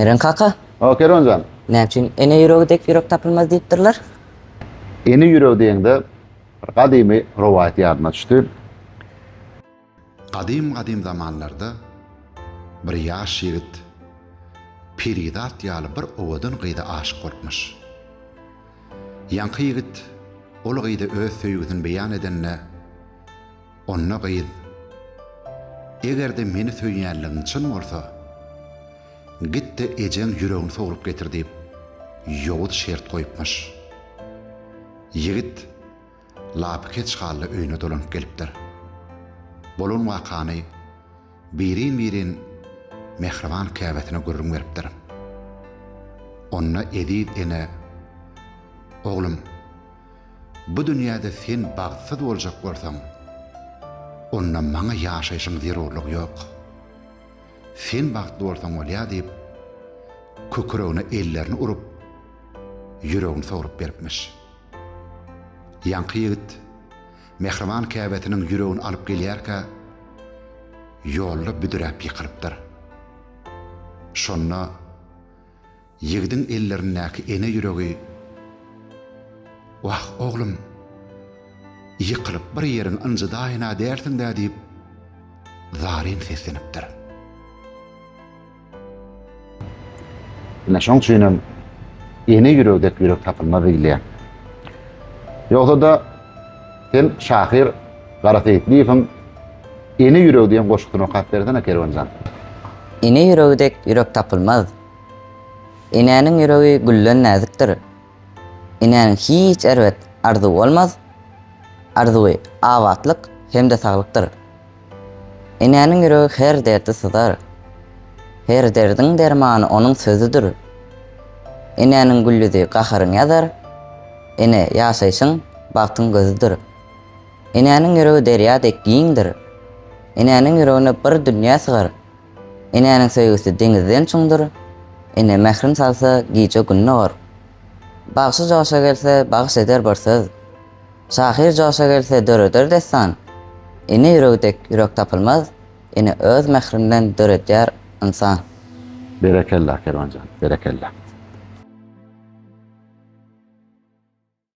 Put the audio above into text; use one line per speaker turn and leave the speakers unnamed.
Meren kaka, O Keronjan, näme üçin ene ýüregi dek ýürek tapylmaz diýipdirler? Ene ýürek diýende bir gadymy rowaýat ýadyma düşdi. Gadym-gadym zamanlarda bir ýaş ýigit Perizat ýaly bir owadan gyza aşyk bolupmyş. Ýaňky ýigit ol gyza öz söýgüsini beýan edende, onda gyz, Eger-de meni söýýänligiň çyn bolsa, git-de ejeň ýüregini sogrup getir diýip, ýowuz şert goýupmyş. Ýigit. lapykeç hally öýüne dolanyp gelipdir. Bolan wakany birin-birin mähriban käbesine gürrüň beripdir. Onda Eziz ene, Oglum, bu dünýäde sen bagtsyz boljak bolsaň, onda maňa ýaşaýşyň zerurlygy ýok. Sen bagtly bolsaň bolýar diýip, kükregine ellerini urup, ýüregini sogrup beripmiş. Ýaňky ýigit mähriban käbesiniň ýüregini alyp gelýärkä, ýolda büdräp ýykylypdyr. Şonda ýigidiň ellerindäki ene ýüregi, Wah, oglum, ýykylyp bir ýeriňi ynjydaýyn-a dälsiň-dä diýip, zaryn seslenipdir. Ine şoň üçin hem ene ýüregi dek ýürek tapylmaz diýilýär. Ýogsa-da sen şahyr Gara Seýitliýewiň Ene ýüregi diýen goşgusyny okap bersene Kerwenjan. Ene ýüregi dek ýürek tapylmaz. Enäniň ýüregi gülden näzikdir. Enäniň hiç erbet arzuwy bolmaz. Arzuwy abatlyk hem-de saglykdyr. Enäniň ýüregi her derdi syzar. Her derdiň dermany onuň sözüdir. Enäniň güllüzi gaharyňy ýazar. Ene, ýaşaýşyň, bagtyň gözüdir. Enäniň ýüregi derýa dek giňdir. Enäniň ýüregine bir dünýä sygar. Enäniň söýgüsi deňizden çuňdur. Ene mährin salsa, gije-gün dogar. Bagşy joşa gelse, bagyş eder bir söz. Şahyr joşa gelse döreder dessan, Ene ýüregi dek ýürek tapylmaz, Ene öz mährinden döredýär ynsan. Berekella Kerwanjan berekella.